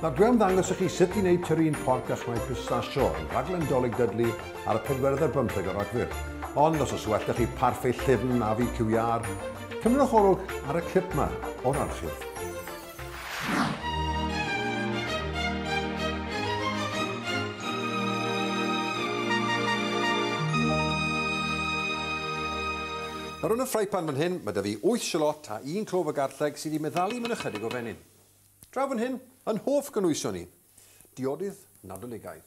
Nawr dwi am ddangos i chi sut i wneud tyrin porc a chwneud pistachio yn rhaglen Dolig Dudley ar y pedwaredd ar bymtheg o Ragfyr. Ond os oes well da chi parffe llyfn na fi QER, cymerwch olwg ar y clip yma o'r archif. Nawr yn y ffraipan fan hyn, mae da fi 8 shalot a un clov o garlleg sydd wedi meddalu mewn ychydig o fenyn. Draw fan hyn, yn hoff gynwysion i. Diodydd Nadoligaidd.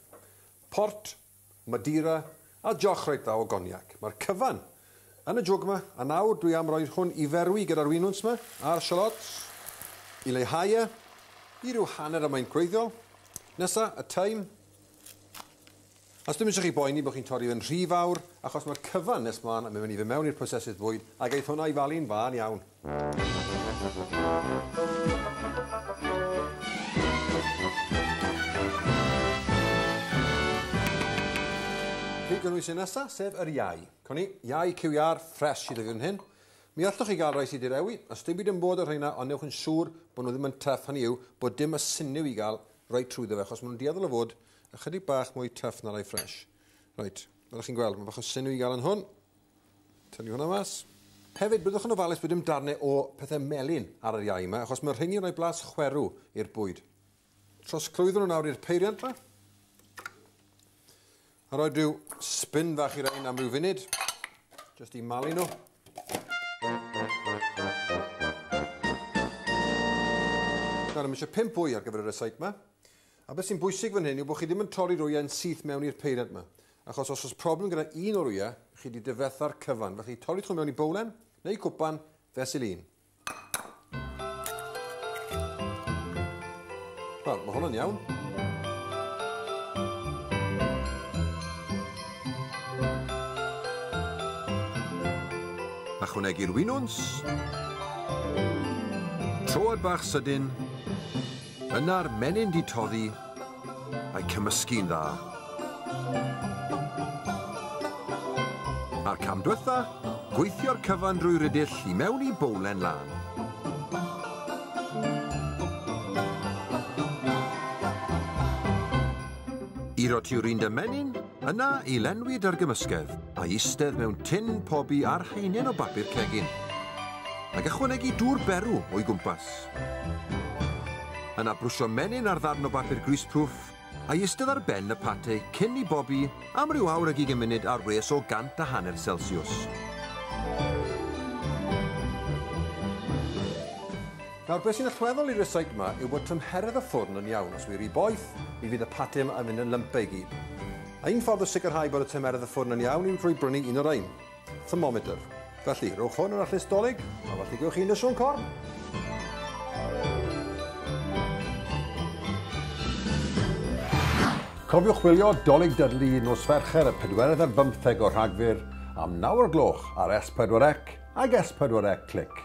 Port, Madeira a joch reit dda o goniac. Mae'r cyfan yn y jwg 'ma, a nawr dwi am roid hwn i ferwi gyda'r winwns 'ma a'r shallots i leihau e i ryw hanner y maint gwreiddiol. Nesa, y thyme. A sdim eisiau chi boeni bod chi'n torri fe'n rhy fawr, achos mae'r cyfan nes mlaen yn mynd i fe mewn i'r prosesydd bwyd, a geith hwnna i falu'n fân iawn. Fi gynnwys un nesa, sef yr iau. Con i, iau QR ffres sydd iddyn hyn. Mi allwch chi gael rhai sydd wedi rewi, a dim byd yn bod o'r rheina, ond newch yn siŵr bod nhw ddim yn tuff, hynny yw bod dim y syniw i gael rhoi trwyddo fe, achos maen nhw'n dueddol o fod ychydig bach mwy tuff na rhai ffres. Reit, fel chi'n gweld, mae bach o syniw i gael yn hwn. Tynnu hwnna mas. Hefyd, byddwch yn ofalus bod dim darnau o pethau melyn ar yr iau yma, achos mae'r rheini'n rhoi blas chwerw i'r bwyd. Trosglwyddo nhw nawr i'r peiriant yma. A rhoi rhyw spin fach i'r ein am ryw funud, jyst i malu nhw. Nawr, eisiau pimp bwy ar gyfer y resaig yma. A beth sy'n bwysig fan hyn yw bod chi ddim yn torri'r wyau yn syth mewn i'r peiriant yma, achos os oes problem gyda un o'r wyau, chi wedi difetha'r cyfan, felly torrwch nhw mewn i bowlen neu cwpan fesul un. Wel, mae hwn yn iawn. Ychwanegu'r winwns. Troad bach sydyn Yna'r menyn 'di toddi, a'i cymysgu'n dda. A'r cam dwetha, gweithio'r cyfan drwy rydyll i mewn i bowlen lân. I rotiwr un dy menyn, yna i lenwi dy'r gymysgedd, a'i istedd mewn tin pobi ar haenen o bapur cegin. Ac ychwanegu dŵr berw o'i gwmpas. Yna brwsio menyn ar ddarn o bapur greaseproof, a'i ystod ar ben y pate cyn i bobi am ryw awr ag ugain munud ar wres o gant a hanner Celsiws. Nawr, beth sy'n allweddol i'r resyg yma yw bod tymheredd y ffwrn yn iawn. Os wy ry boeth, mi fydd y pate yma yn mynd yn lumpy i gyd. A un ffordd o sicrhau bod y tymeredd y ffwrn yn iawn yw drwy brynu un o rhain. thermometer. Felly, rhowch hwn yn allus dolyg, a felly gwch chi yn y swn corn. Cofiwch wylio Dolig Dudley nos Fercher y 4 ar 15 o Rhagfyr am 9 o'r gloch ar S4C ag S4C Click.